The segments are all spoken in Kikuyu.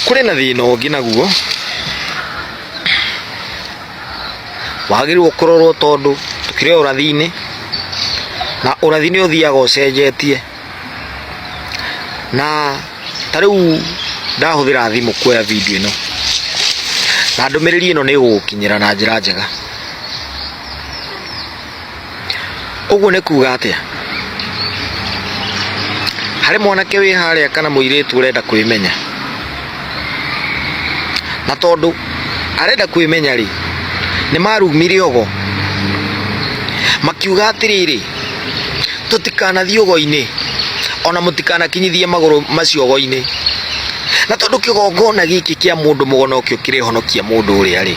kũrĩ na thĩna ũngĩ naguo wagĩrĩirwo kũrorwo tondũ tũkĩrĩ o ũrathi-inĩ na ũrathi nĩ ũthiaga ũcenjetie na ta rĩu ndahũthĩra thimũ kuoya video ĩno na ndũmĩrĩri ĩno nĩ ĩgũgũkinyĩra na njĩra njega. Ũguo nĩ kuga atĩa? Harĩ mwanake wĩ harĩa kana mũirĩtu ũrenda kwĩmenya, na tondũ arenda kwĩmenya rĩ, nĩ marumire ogo makiuga atĩrĩrĩ, tũtikanathiĩ ũgo-inĩ ona mũtikanakinyithie magũrũ macio ũgo-inĩ, na tondũ kĩgongona gĩkĩ kĩa mũndũ mũgo nokĩo kĩrĩhonokia mũndũ ũrĩa rĩ.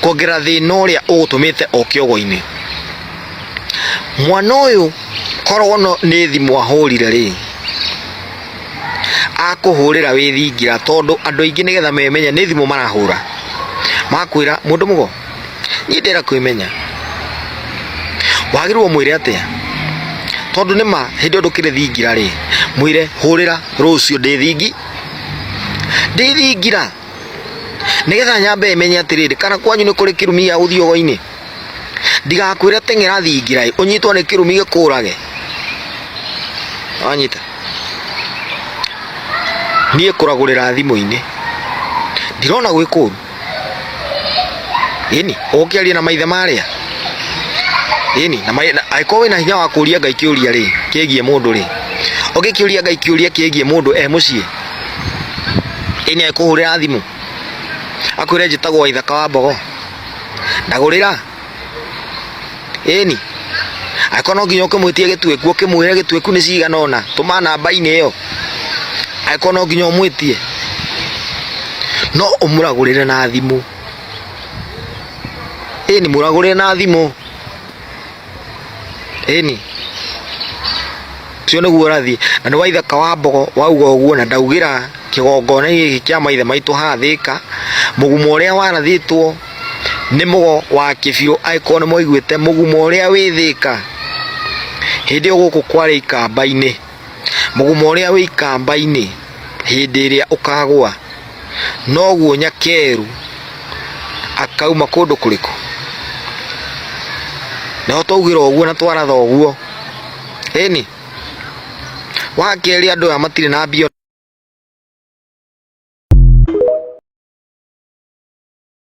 kuongerera thĩna ũrĩa ũgũtũmĩte o kĩogo-inĩ mwana ũyũ korwo no nĩ thimũ ahũrire rĩ akũhũrĩra wĩthingira tondũ andũ aingĩ nĩgetha memenya nĩ thimũ marahũra makwĩra mũndũ mũgo niĩ ndĩra kwĩmenya wagĩrĩirwo mwĩre atĩa tondũ nĩ ma hĩndĩ ĩyo ndũkĩrĩ thingira rĩ mwĩre hũrĩra rũciũ ndĩ thingi ndĩ thingira nĩgetha nyambe ĩmenye atĩrĩrĩ kana kwanyu nĩ kũrĩ kĩrumi gĩa gũthiĩ ũgo-inĩ ndigakwĩre teng'era thingira ũnyitwo nĩ kĩrumi gĩkũrage wanyita niĩ kũragũrĩra thimũ-inĩ ndirona gwĩ kũru ĩni ũgũkĩaria na maithe marĩa ĩni angĩkorwo wĩna hinya wa kũria ngai kĩũria rĩ kĩgiĩ mũndũ rĩ ũngĩkĩũria ngai kĩũria kĩgiĩ mũndũ e mũciĩ ĩ nĩ ekũhũrĩra thimũ akwĩre njĩtagwo waithaka wa mbogo ndagũrĩra ĩni angĩkorwo no nginya ũkĩmwĩtie gĩtuĩku ũkĩmwĩre gĩtuĩku nĩ cigana ũna tũma namba-inĩ ĩyo angĩkorwo no nginya ũmwĩtie no ũmũragũrĩre na thimũ ĩni mũragũrĩre na thimũ ĩni ũcio nĩguo ũrathiĩ na nĩ wa ithaka wa mbogo wauga ũguo na ndaugĩra kĩgongona gĩkĩ kĩa maithe maitũ haha thĩka mũgumo ũrĩa warathĩtwo nĩ mũgo wa kĩbiũ angĩkorwo nĩ mwaiguĩte mũgumo ũrĩa wĩ thĩka hĩndĩ ĩyo gũkũ kwarĩ ikamba-inĩ mũgumo ũrĩa wĩ ikamba-inĩ hĩndĩ ĩrĩa ũkagwa noguo nyakeru akauma kũndũ kũrĩkũ naho twaugĩra ũguo na twaratha ũguo ĩni wa kerĩ andũ aya matirĩ na mbia